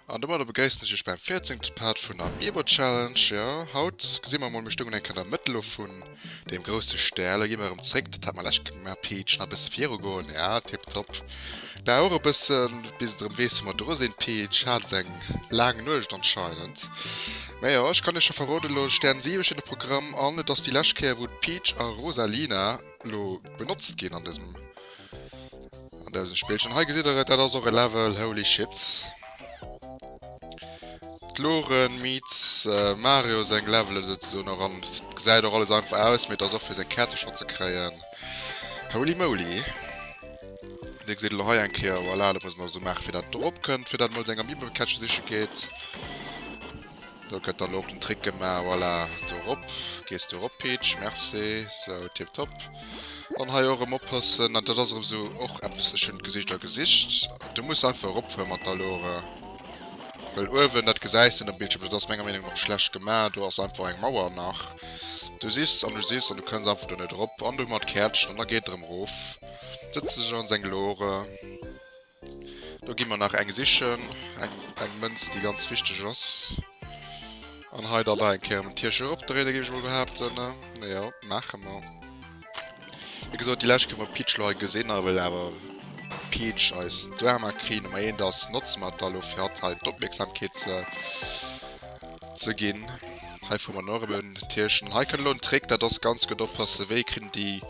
An domadder begréissen ech iech beim 14. Part vun der Meerbutt Challenge. Jo, haut gesi mer emol, mir stoungen eng Kéier an der Mëttel lo vun deem grousse Stär. Lo gi mer erëm zréck, dat hat mer lech gemaach, Peach, nach e bësse virugoen. Ja, tipptopp. Dauer e bëssen bis et erëm weess wou mer dru sinn. Peach hat eng laang Nuecht anscheinend. Mä jo, ech kann iech scho verroden elo, Stern 7 steet um Programm an et ass déi lescht Kéier wou d'Peach a Rosalina elo benotzt ginn an dësem, an dësem Spillchen. Hei gesitt der et, dat ass och e Level, holy shit. D'Loren meets Mario seng Levelen souzesoen och an et gesäit och alles einfach aus, mee et ass och fir seng Käertercher ze kréien, holy moly. Dir gesitt elo hei eng Kéier, voilà, dat muss een also maachen, fir datt et erop kënnt, fir datt een emol seng Amiibekäschte siche geet. Do gëtt dann elo och den Trick gemaach, voilà, do erop. Gees du erop, Peach, merci, sou, tiptop. Dann hei och erëm oppassen, dat ass erëm esou och eppes, ech hunn d'Gesicht a Gesicht. Du muss einfach eropfuere mat der Lore, well uewen, dat gesäis de net um Bildschierm, dat ass menger Meenung no schlecht gemaach, do ass einfach eng Mauer nach. Du sichs an du sichs an du kënns einfach do net erop. An do hu mer d'Käertchen an da geet et erëm erof. Setze sech an seng Lore. Do gi mer nach eng sichen, eng, eng Mënz, déi ganz wichteg ass. An hei dann nach eng Kéier den Tierche eropdréine géif ech emol behaapten. Na jo, maache mer. Wéi gesot, déi lescht kënne mer d'Peach lo hei gesinn. A well awer d'Peach eis d'Drama Queen Nummer eent ass, notze mer dat da lo fir hatt hei d'Opmierksamkeet ze, ze ginn. Hei froe mer nach erëm en Tierchen. Hei kënnt elo en Trick, dat ass ganz gutt oppasse, wéi kritt en déi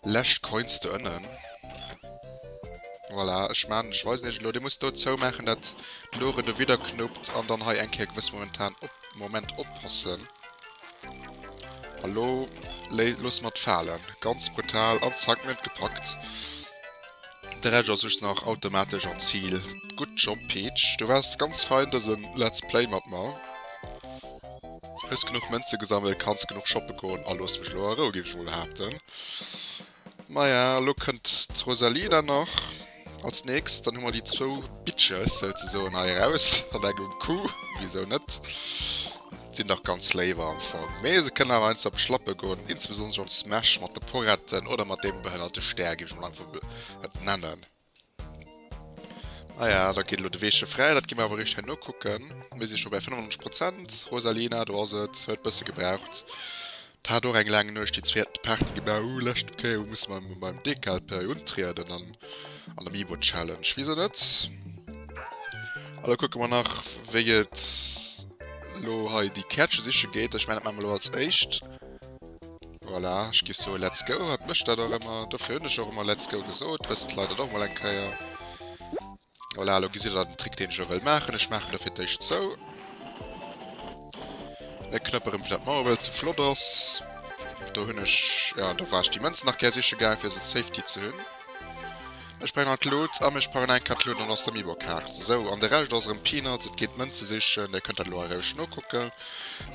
Lescht Coins do ënnen. Voilà, ech man, ech weisen iech elo, dee muss do zoumaachen, dat Lore do widderknuppt an dann hei eng Kéier gewëss momentan op Moment oppassen. A lo léi loosse mer et falen. Ganz brutal an zack, mir hunn et gepackt. De Rescht ass just nach automatesch an d'Zil. Good job Peach, du waars ganz fein dësen Let's Play mat mer. Hues genuch Mënzen gesammelt, kanns genuch shoppen goen a loos mech elo a Rou, géif ech mol behaapten. Maja, elo kënnt d'Rosalina nach als nächst, dann hu mer déi zwou Bitches souzesoen hei eraus an engem Coup, wisou net? Sin dach ganz léiw am Fong, mee se kënnen awer einst op d'Schlappe goen, insbesonderlech am Smash mat de Poretten oder mat deem behënnerte Stär, gin ech mol einfach mol et nennen. Naja, da geet elo de Weeche fräi, dat gi mir awer eréischt herno kucken. Mir si scho bäi 95 Prozent, Rosalina, do ass et, huet bësse gebraucht. 't hat och eng laang Nuecht déi zwee haten Party gemaach, uh lescht Kéier musse mer emol beim DKLP untrieden an an Amiibo Challenge, wisou net? A lo kucke mer nach wéi et lo hei déi Käertche siche geet, ech mengen dat maache mer lo als éischt. Voilà, ech géif soe let's go, hat mécht dat och ëmmer, dofir hunn ech och ëmmer let's go gesot, wëssen d'Leit dat och mol eng Kéier. Voilà, elo gesitt der den Trick deen ech elo wëll maachen, ech maachen do fir d'éischt zou. E Knëpper rëm fir dat d'Mauer wëll ze flott ass. Do hunn ech, jo do war ech déi Mënzen nach gär siche gaang fir se safety ze hunn. Ech brauch nach d'Loot a ech brauch nach eng Kart Loot an ass der Mibo Kaart. Sou, an de Rescht ass erëm Peanuts, et geet d'Mënze sichen, Dir kënnt dat elo a Roueg nokucke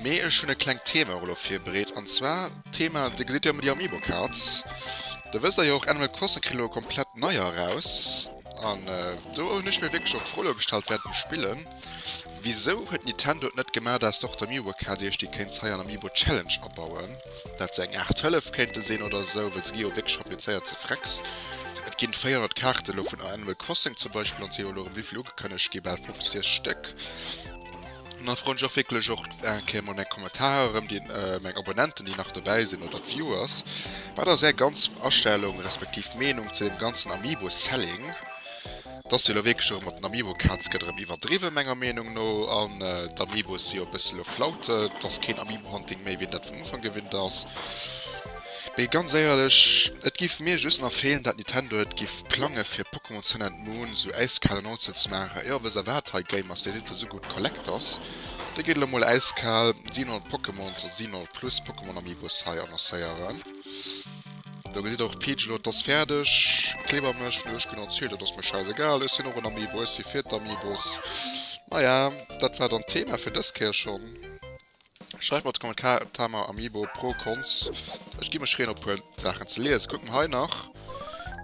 mee ech hunn e klengt Thema och elo virbereet an zwar d'Thema, Dir gesitt jo ëmmer déi Amiibo Cards, da wësst der jo och Animal Crossing kritt elo e komplett neier eraus. An do hun ech mir wierklech och d'Fro elo gestallt während dem Spillen, Wisou huet Nintendo et net gemaat ass Dr. Miwa KDeeg, déi kéints hei an Amiibo Challenge abauen, daat se eng Art Hëllef kéinte sinn oder esou, well se gi jo wierklech fabricéiert ze Frecks. Et ginn 400 Kaarten elo vun Animal Crossing zum Beispill an se jo elo erem, wéivill ugekënnegt gi? Bal 50 Stéck. An da froen ech och wierklech och eng Kéier mol meng Kommentarer erëm, déi meng Abonnenten, déi nach dobäi sinn, oder d'Viewers. Wat ass Är ganz Astellung respektiv Meenung zu deem ganzen Amiibo-Selling? Et ass jo elo wierklech erëm, mat den Amiibo-Kaz gëtt erëm iwwerdriwwen, menger Meenung no. An d'Amiibos si jo e bësse elo flaut. Et ass keen Amiibo-Hunting méi, wéi een dat vum Ufank gewinnt ass. Mee ganz éierlech, et giff mir just nach fehlen dat Nintendo et giff plangen fir Pokémon Sun and Moon sou äiskal an oldschool ze maachen. Jo, wëss der waat, hei Game ass, dir sidd do sou gudd Collectors, da gitt elo mol äiskal 700 Pokémons oder 700 plus Pokémon Amiibos hei annoncéieren. Do gesidd der och Peach elo, et ass färdeg, kleber mech wou ech genotzt hun, et ass mir schäisegal, ech sin och en Amiibo, ech si fir d'Amiibos. Naja, dat war dann d'Thema fir dës Kéier schon. Schreift mer an de Kommentar op Tama Amiibo pro Cons. Ech gi mech reen op puer Saachen ze liesen. Kucken hei nach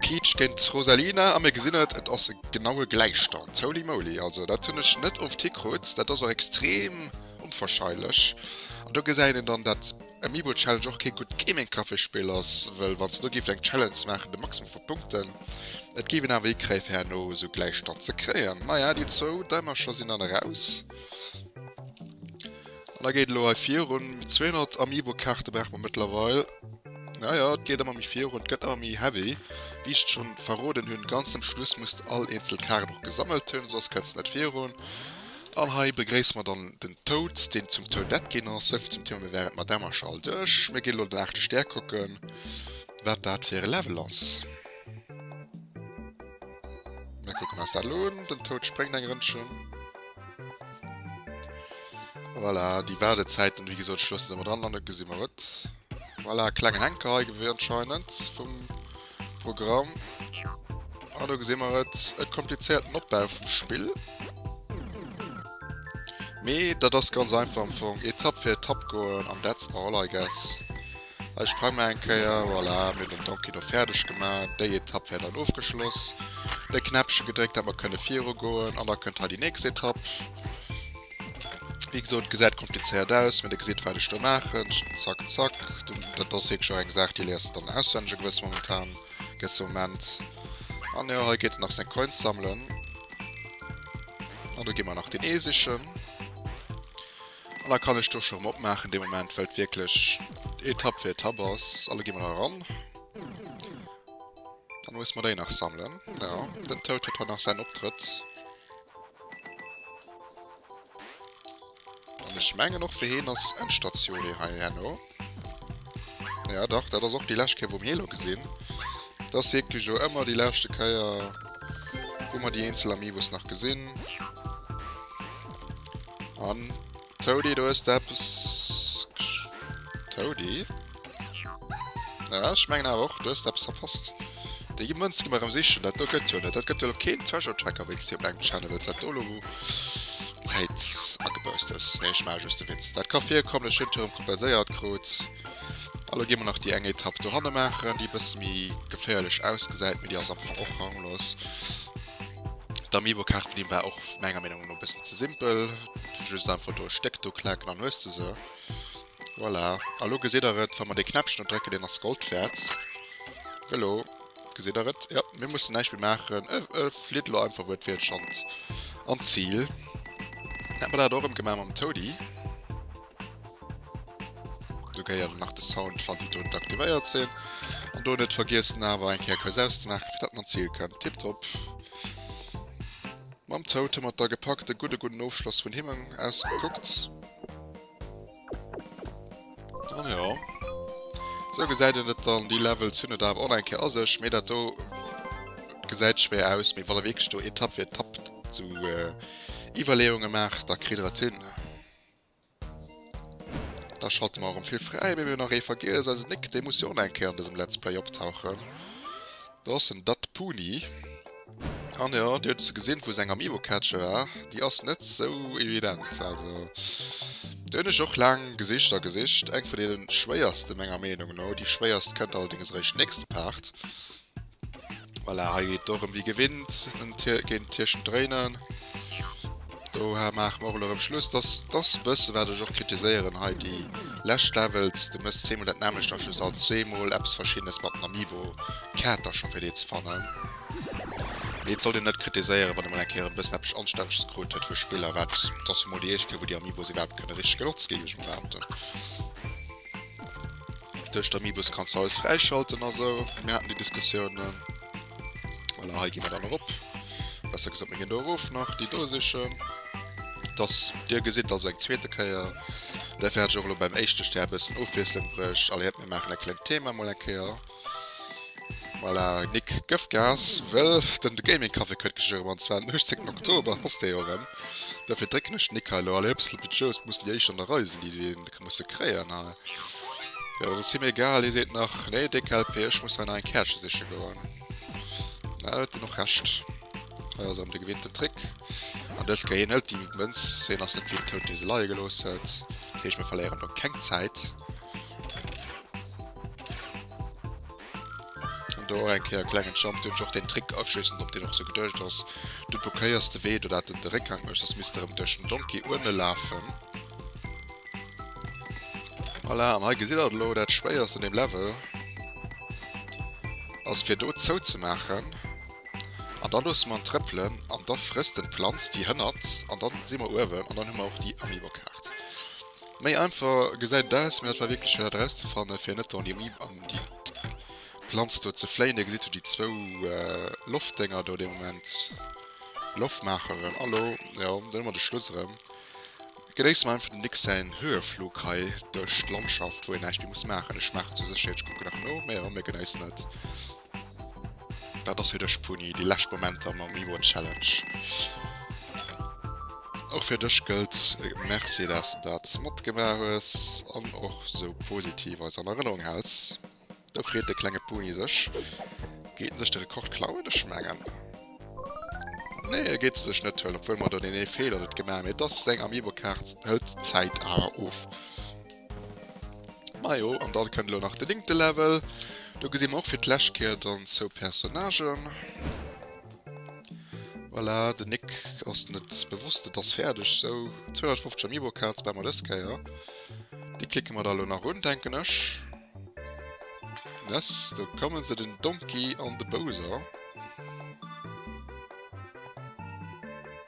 Peach géint Rosalina a mir gesinn et, et ass e genaue Gläichstand. Holy moly, also dat hunn ech net oft hikrut. Dat ass och extrem onwahrscheinlech. An do gesäit een dann dat Amiibo Challenge och kee gutt Gaming Caféspill ass, well wann se do géift eng Challenge maachen de Maximum vu Punkten, et géif een awer hikréien fir herno esou Gläichstand ze kréien. Naja, déi zwou Däimercher sinn dann eraus. Da geet lo hei virun. 200 Amiibo-Kaarte brauch mer mittlerweile. Ja, ja, et geht immer méi virun, gëtt immer méi heavy. Wie ich schon verroden hunn, ganz am Schluss muss du all eenzel Kaart och gesammelt hunn, soss kënns net virun. An hei begréisse mer dann den Toad, deen zum Toadette ginn ass. Souvill zum Thema, mir wären mat dem Marche all duerch. Mir ginn lo den aachte Stär kucken, wat dat fir e Level ass. Mir kucken eis dat lo un. Den Toad spréngt eng Rënnchen. Voilà, die Wartezeiten, wie gesagt, schlossen sie mal dran, dann gesehen wir was. Voilà, kleine Henker hier gewesen anscheinend vom Programm. Und ah, da gesehen wir jetzt einen komplizierten Abbau vom Spiel. Aber das ist ganz einfach am Anfang. Etapp für Etapp gehen und that's all, I guess. Ech prangen nach eng Kéier. Voilà, mir hunn den Donkey do fäerdeg gemaach. Déi Etapp wär dann ofgeschloss. Dee Knäppche gedréckt, dat mer kënne virugoen. An da kënnt hei déi nächst Etapp. Wéi gesot, gesäit komplizéiert aus, mee Der gesitt, wat ech do maachen. Zack, zack. Dat ass wierklech och eng Saach, déi léiers de dann auswenneg e gewësse momentan, gewësse Moment. An jo, hei geet en nach seng Coins sammelen. An do gi mer nach den Ee sichen. An da kann ech d'Dusche erëm opmaachen dee Moment, well et wierklech Etapp fir Etapp ass. An da gi mer da eran. Da musse mer déi nach sammelen. Jo, den Toad huet haut nach säin Optrëtt. An ech mengen och fir hien ass Endstatioun hei herno. Ja dach, dat ass och déi lescht Kéier wou mir ee lo gesinn. Et ass wierklech jo ëmmer déi leschte Kéier, wou mer déi eenzel Amiibos nach gesinn. An Toady, do hues de eppes gesch... Toady? Ja, ech mengen awer och, du hues eppes verpasst. Déi gi Mënz gi mer erëm sichen. Dat do gëtt jo net. Dat gëtt jo elo keen Treasure Tracker, wéi s de op engem Channel wëlls dat do elo Zäit agebaust hues. Nee, ech maache just e Witz. Dat ka virkommen. Ech hunn et jo erëm kompenséiert krut. A elo gi mer nach déi eng Etapp dohanne maachen, déi e bësse méi geféierlech ausgesäit, mee déi ass am Fong och ranglos. D'Amiibo-Kaart vun him war och menger Meenung no e bëssen ze simpel. Just einfach do e Stéck do klaken, an hues de se. Voilà, a lo gesitt der et, wa mer dee Knäppchen do drécken, deen ass Gold wäert. Elo gesitt der et, jo, mir mussen näischt méi maachen, e flitt elo einfach uewen fir d'Schand an d'Zil. Hätte mer dat et och erëm gemaach mam Toady. Do géi elo nach de Sound van déi drunter aktivéiert sinn. An do net vergiessen awer eng Kéier quasi auszemaachen, fir datt en an d'Zil kënnt. Tiptop. Mam Toad hu mer et da gepackt, e gudde gudden Ofschloss vun him aus gekuckt. An ja. So gesäit en et dann, déi Levels hunn et awer och nach eng Kéier a sech, mee dat do gesäit schwéier aus. Mee wann der wierklech do Etapp fir Etapp zu Iwwerleeunge maacht, da kritt der et hin. Da schalte mer erëm vill fräi, mee mir hunn nach ee vergiess, eise Nick, dee muss jo och nach eng Kéier an dësem Let's Play optauchen. Do ass en Datpuni. An jo, Dir huet se gesinn, wou se eng am Ewocatcher war. Déi ass net sou evident. Also do hunn ech och laang gesicht a gesicht. Eng vun deenen schwéierste menger Meenung no. Déi schwéierst kënnt allerdéngs eréischt nächste Part. Voilà, hei geet et dorëm wéi gewinnt géint d'Tierchen dréinen. Dohar maache mer och elo erëm Schluss. Dass dass bësse wat ech och kritiséieren hei déi lescht Levels. Du mëss zweemol dat nämmlecht a just alt zweemol eppes verschiddenes mat den Amiibo. D'Kaart ass scho fir dee ze fannen. Mee et sollt een net kritiséieren, wann ee mol eng Kéier e bëssen eppes Anstännleches krut huet fir Spiller. Wat et ass jo mol déi éischt Kéier wou déi Amiibos iwwerhaapt kënne richteg genotzt ginn, géif ech mol behaapten. Duerch d'Amiibos kanns du alles fräischalten a sou. Mir haten déi Diskussiounen. Voilà, hei gi mer dann erop. Besser gesat, mir ginn do erof nach, déi do sichen. Dass Dir gesitt, also eng zweete Kéier, dofir hat ech och elo beim éischte Stär e bëssen Ofwiesslung bruecht. Alléiert, mir maachen e klengt Thema mol eng Kéier. Voilà, Nick, gëff Gas, wëll den de Gaming Café kënnt gléchlech erëm, an zwar den 18 Oktober ass dee jo erëm. Dofir drécken ech den Nick hei elo, alléier, e bëssel Budget, et mussen déi éischt an der Rei sinn, déi dee. musse kréien. An, jo, dat ass him egal. Hie seet nach, Nee, déck LP, ech muss hei nach eng Käerche siche goen. Na, huet en och Recht. Hei ass erëm de gewinnten Trick. An dës Kéier, hien hëlt déi Mënz. Hien ass net wéi den Toun, dee se leie gelooss huet. Dat heescht, mir verléieren do keng Zäit. do eng Kéier klengen Jump den och den Trick afschiessen op den och so gedcht ass du blockéiers de weh du dat den Dreckgang mech das mister im Dëschen Donkey urne lafen voilà, an he gesit dat lo dat schwéiers an dem Level ass fir do zou ze machen an dann los man trëppelen an der fristen Planz die hënnert an dann si man uewen an dann hu man auch die Amiibo-Kaart. Méi einfach gesäit et aus, mee dat war wierklech schwéier dat erauszefannen, fir net an déi Omnibus, an déi Planz do ze fléien. Dir gesitt jo déi zwou Loftdénger do dee Moment, Loftmaacheren. Hallo, jo, do hu mer de Schluss erëm. Genéisse mer einfach den Nick säin Höheflug hei duerch d'Landschaft, wou een näischt méi muss maachen. Ech maachen zur Sécherheet, ech kucke nach no, mä jo, mir genéissen et. Dat ass fir dech Puni, déi lescht Momenter mam Reward Challenge. Och fir dech gëllt äh, Merci, dass du dat matgebracht hues an och so positiv als an Erinnerung häls. Da freet de klenge Puni sech. Geet sech de Rekord klauen ech mengen. Nee, er geet sech net hëll, obwuel mat der den ee Fehler net gemaach, mee dass seng Amiibo-Kaart hëlt d'Zäit awer of. Majo, an dann kënnt elo nach de linkte Level. Do gesinn mer och fir d'Läschkeier dann zou Personnagen. Voilà, de Nick ass net bewosst, et ass fäerdeg. Sou, 250 Amiibo Cards bauen mer dës Keier. Déi klicken mer da elo nach un, denken ech. Yes, do kommen se, den Donkey an de Bowser.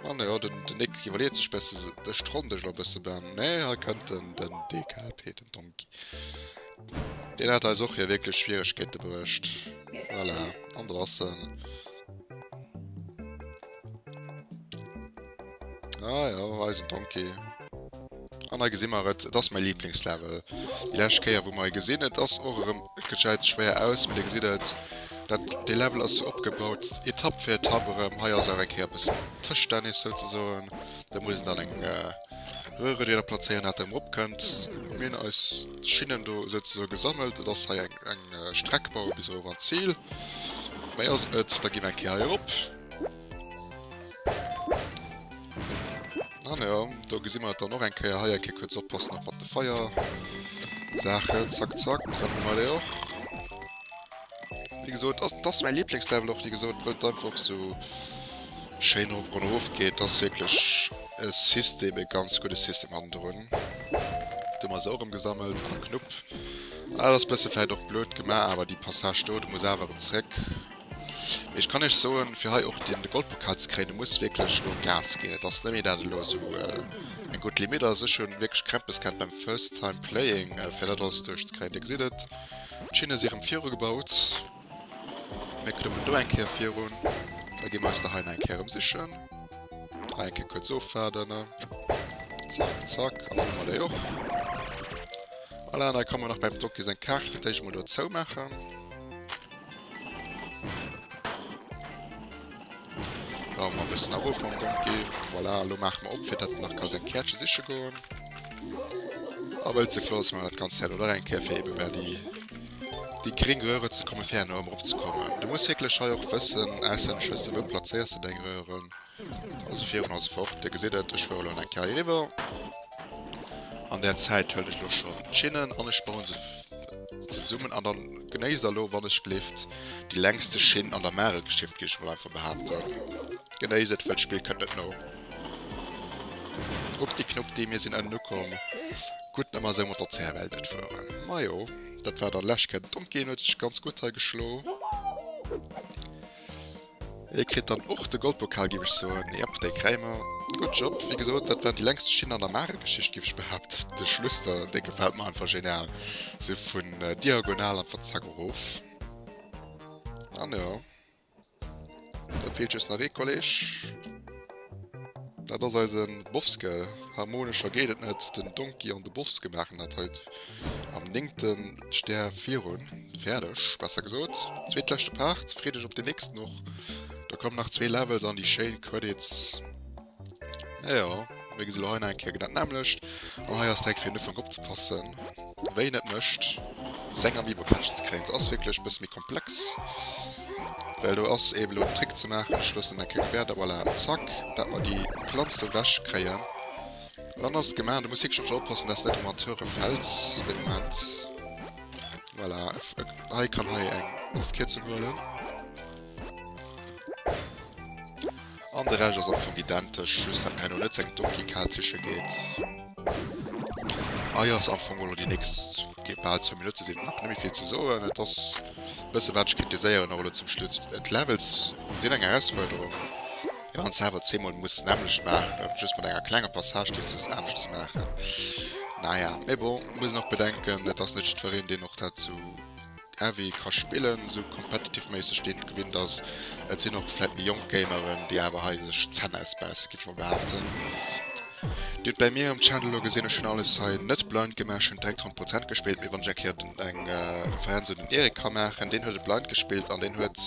Ah ne, oh, den, den Nick iwwerleet sech besse de Strondeg lo bësse ben. Nee, ha kënnt den den DKP, den Donkey. Den hat eis och hir wierklech Schwieregkeete berecht. Voilà, an der ass en. Ah ja, eisen Donkey. An hei gesi mer et, et ass mäi Liblingslevel déi lescht Kéier wou mer e gesinn. Et ass och erëm, et gesäit schwéier aus, mee Dir gesitt et, dat dee Level ass sou opgebaut, Etapp fir Etapp erëm. Hei ass awer eng Kéier e bëssen Tëschtennis souzesoen, do muss een dann eng Röhre déi Der plazéieren, dat Der erëm eropkënnt. Mir hunn eis Schinnen do souzesoe gesammelt, et ass hei eng Streck baue bis erof an d'Zil. Méi ass et net, da gi mer eng Kéier hei erop. Ah, ne, ja, da gesi mer dann noch eng Keier hei eng Keier kurz oppassen nach mat de Feier. Sache, zack, zack, können wir auch. Wie gesagt, das, das ist mein Lieblingslevel auch, wie gesagt, weil es einfach so schön hoch und hoch geht. Das ist wirklich ein System, ein ganz gutes System haben drin. Du hast auch umgesammelt, Knupp. Ah, das ist ein bisschen vielleicht auch blöd gemacht, aber die Passage dort muss einfach zurück. Mee ech kann Iech soen, fir hei och den Goldpokal ze kréien, do muss wierklech lo Gas ginn. Et ass net méi dat elo esou eng gutt Limitt ass. Ech hunn wierklech Krämpes gehat beim First Time Playing fir dat alles duerch ze kréien. Dir gesitt et, d'Schinne si erëm viru gebaut. Mir klëmmen do eng Kéier virun. Da gi mer eis der hei nach eng Kéier erëm sichen. Hei eng Kéier kuerz ofwaarden. Zack, zack. An da hu mer déi och. Voilà, an da ka mer nach beim Doki seng Kaart fir d'éischt emol do zou maachen. Wa mer bëssen a Ruffong dom ginn. Voilà, lo maache mer op, fir datt en nach ka seng Käerche siche goen. A wëll ze flott ass, maache mer dat Ganzt herno nach eng Kéier, fir ebe mer déi, déi gréng Röhre ze kommen, fir herno erëm erop ze kommen. Du muss wierklech hei och wëssen, auslännesch wëssen, wou plazéiers de deng Röhren. Also virun ass fort, Dir gesitt et, ech fuere lo eng Kéier hiriwwer. An där Zäit hëllen ech lo schonn d'Schinnen an ech baue se zesummen. An da genéisst Der lo, wann ech gleeft, déi längste Schinn an der Maregeschicht, géif ech mol einfach behaapten. Genéisst et, well d'Spill kënnt net no. Updi Knuppdi, mir sinn ënnen ukomm. Gutt, datt mer esou mat der CFL net fueren. Majo, dat war dann lech. D'Donkey huet sech ganz gutt hei geschlo. Hie kritt dann och de Goldpokal giff ech soen, jep dei kräie mer. Gudd Job, wéi gesot dat war déi längste Schinn an der Marel Geschicht giff ech behaapten. De Schluss do, dee gefällt mer einfach genial, sou vun diagonal an verzack erof. An jo, do feelt just nach ee Kolleg. Dat ass eisen Bofske. Harmonescher geet et net. Den Donkey an de Bofske maachen dat heut am néngten Stär virun. Fäerdeg, besser gesot. Zweetleschte Part. Freet Iech op den nächsten och. Da kommen nach zwee Levels an déi schéin Credits. Naja, mir gesi lo hei nach eng Kéier genau dat nämmlecht. An hei ass direkt fir den Ufank opzepassen. Wéi een et mécht seng Amiibo catcht ze kréien. Se ass wierklech e bësse méi komplex, well do ass eben elo en Trick ze maachen. Ech loossen dat keng Wäerter, voilà, zack, dat mer déi Planz do ewech kréien. An dann ass et gemaach. Du muss wierklech just oppassen, dass net ëm an d'Höre fäls dee Moment. Voilà, hei kann hei eng Ofkierzung huelen. An de Rescht ass am Fong identesch, just dat mir herno net seng Donkey Kal siche geet. Hei ass am Fong elo déi nächst, géint bal zwou Minutte sinn, och net méi vill ze soen. Et ass e bësse wat ech kritiséieren, och elo zum Schluss, d'Levels sinn eng Erausfuerderung, well een se awer zweemol muss d'nämmlecht maachen, just mat enger klenger Passage déi soss anescht ze maachen, naja. Mee bon, mir mussen och bedenken, et ass net jiddwereen, deen och dat sou. Ewéi ka spillen, esou competitive-méisseg deen gewinnt ass. Et sinn och vläit méi jonk Gameren, déi awer hei sech d'Zänn ausbäissen, géif ech mol behaapten. Dir hutt bei mir um Channel elo gesinn, ech hunn alles hei net blind gemaach, ech hunn direkt 100 Prozent gespillt. Mee wann ech eng Kéier eng Referenz un den Eric ka maachen, deen huet et blind gespillt an deen huet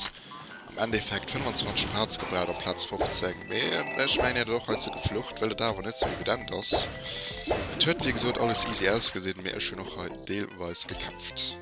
am Endeffekt 25 Parts gebraucht op Plaz 15. Mee ech mengen, hien huet och hei ze geflucht, wëll et awer net esou evident ass. Et huet wéi gesot alles easy ausgesinn, mee ech hunn och hei deelweis gekämpft.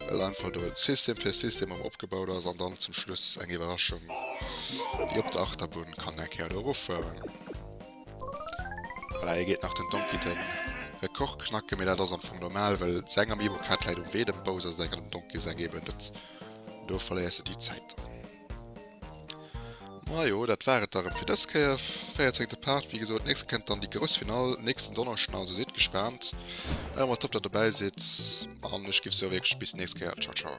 Well einfach do System fir System erëm opgebaut ass an dann zum Schluss eng Iwwerraschung wéi op der Achterbunn kann eng Kéier do eroffueren. Voilà, hei geet nach den Donkey den Rekord knacken, mee dat ass am Fong normal, well säin Amiibo-Pad läit um Wee, dem Bowser säin an dem Donkey säin eben net. Do verléiers de déi Zäit dann. Majo, dat war et da rem fir dës Kéier. 14 Part, wéi gesot. Nächst kënnt dann déi grouss Finall nächsten Donneschden, also sidd gespaant. Ech hoffen dass der dobäi sidd an ech géif soe wierklech bis nächst Kéier. Ciao ciao.